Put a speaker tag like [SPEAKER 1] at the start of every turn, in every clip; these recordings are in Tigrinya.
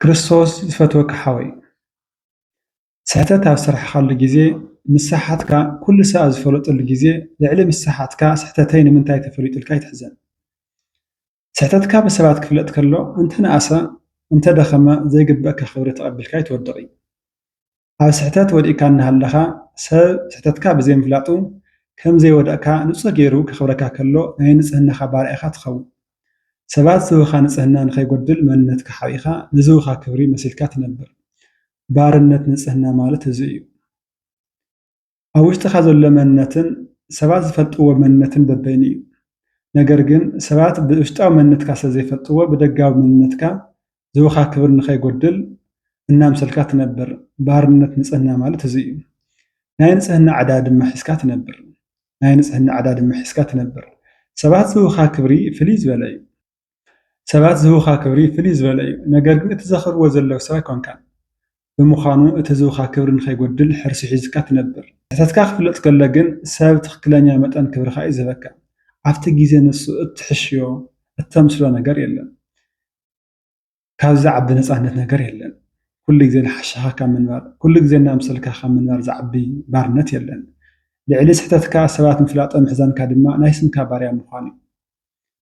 [SPEAKER 1] ክርስቶስ ዝፈትወካ ሓወይ ስሕተት ኣብ ዝሰራሕካሉ ግዜ ምሳሓትካ ኩሉ ሰብ ኣብ ዝፈለጠሉ ግዜ ልዕሊ ምሳሓትካ ስሕተተይ ንምንታይ ተፈሊጡ ኢልካ ኣይትሕዘን ስሕተትካ ብሰባት ክፍለጥ ከሎ እንተነኣሰ እንተደኸመ ዘይግበኣካ ክብሪ ተቀቢልካ ኣይትወድቅን። ኣብ ስሕተት ወዲቕካ እናሃለኻ ሰብ ስሕተትካ ብዘይምፍላጡ ከም ዘይወደቕካ ንጹር ገይሩ ከኽብረካ ከሎ ናይ ንጽህናኻ ባርያ ኢኻ ትኸውን። ሰባት ዝህቡኻ ንጽህና ንኸይጎድል መንነትካ ሓቢእካ ንዝህቡኻ ክብሪ መሲልካ ትነብር። ባርነት ንጽህና ማለት እዚ እዩ። ኣብ ውሽጥኻ ዘሎ መንነትን ሰባት ዝፈልጥዎ መንነትን በበይኑ እዩ። ነገር ግን ሰባት ብውሽጣዊ መንነትካ ስለዘይፈልጥዎ ብደጋዊ መንነትካ ዝህቡኻ ክብሪ ንኸይጎድል እናምሰልካ ትነብር። ባርነት ንፅህና ማለት እዙይ እዩ። ናይ ንፅህና ዕዳ ድማ ሒዝካ ትነብር። ናይ ንፅህና ዕዳ ድማ ሒዝካ ትነብር። ሰባት ዝህቡኻ ክብሪ ፍልይ ዝበለ እዩ። ሰባት ዝህቡኻ ክብሪ ፍልይ ዝበለ እዩ። ነገር ግን እቲ ዘኽብርዎ ዘለዉ ሰብ ኣይኮንካን። ብምዃኑ እቲ ዝህቡኻ ክብሪ ንኸይጎድል ሕርሲ ሒዝካ ትነብር። ንሕተትካ ክፍለጥ ከሎ ግን ሰብ ትኽክለኛ መጠን ክብርኻ እዩ ዝህበካ። ኣብቲ ግዜ ንሱ እትሕሽዮ፣ እተምስሎ ነገር የለን። ካብ ዝዓቢ ነፃነት ነገር የለን። ኩሉ ግዜ ንሓሻኻ ካብ ምንባር፣ ኩሉ ግዜ እናምሰልካ ካብ ምንባር ዝዓቢ ባርነት የለን። ልዕሊ ስሕተትካ ሰባት ምፍላጦ ምሕዛንካ ድማ ናይ ስምካ ባርያ ምዃን እዩ።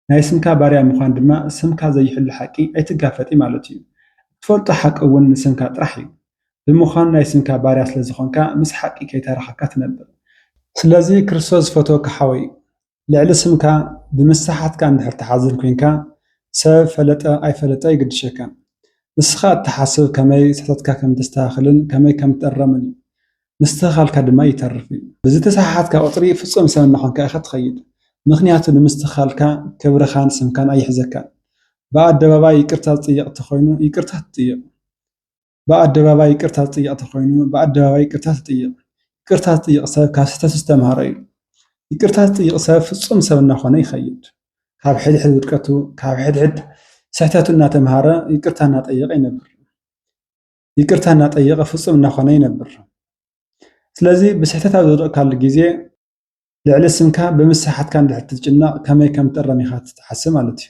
[SPEAKER 1] ናይ ስምካ ባርያ ምዃን ድማ ስምካ ዘይሕሉ ሓቂ ኣይትጋፈጥ እዩ ማለት እዩ። እትፈልጦ ሓቂ እውን ንስምካ ጥራሕ እዩ። ብምዃኑ ናይ ስምካ ባርያ ስለዝኾንካ ምስ ሓቂ ከይተራኸብካ ትነብር። ስለዚ ክርስቶስ ዝፈትወካ ሓወይ ልዕሊ ስምካ ብምስሓትካ እንድሕር ትሓዝን ኮይንካ ሰብ ፈለጠ ኣይፈለጠ ኣይግድሸካን። ንስኻ እትሓስብ ከመይ ስሕተትካ ከም እተስተኻኽልን ከመይ ከም እትእረምን እዩ። ምስትኽኻልካ ድማ ይተርፍ እዩ። ብዝተሰሓሓትካ ቁጽሪ ፍጹም ሰብ እናኾንካ ኢኻ እትኸይድ። ምኽንያቱ ንምስትኽኻልካ ክብርኻን ስምካን ኣይሕዘካን። ብኣደባባይ ይቅርታ ዝጥየቕ እንተኾይኑ ይቅርታ ትጥይቕ። ብኣደባባይ ይቅርታ ዝጥይቅ ተኾይኑ ብኣደባባይ ይቅርታ ትጥይቅ። ይቅርታ ዝጥይቅ ሰብ ካብ ስህተቱ ዝተምሃረ እዩ። ይቅርታ ዝጥይቅ ሰብ ፍፁም ሰብ እናኾነ ይኸይድ። ካብ ሕድሕድ ውድቀቱ ካብ ሕድሕድ ስሕተቱ እናተምሃረ ይቅርታ እናጠየቀ ይነብር። ይቅርታ እናጠየቀ ፍፁም እናኾነ ይነብር። ስለዚ ብስሕተት ኣብ ዝወደቅካሉ ግዜ ልዕሊ ስምካ ብምስሓትካ እንድሕር ትጭነቅ ከመይ ከም ትእረም ኢኻ ትሓስብ ማለት እዩ።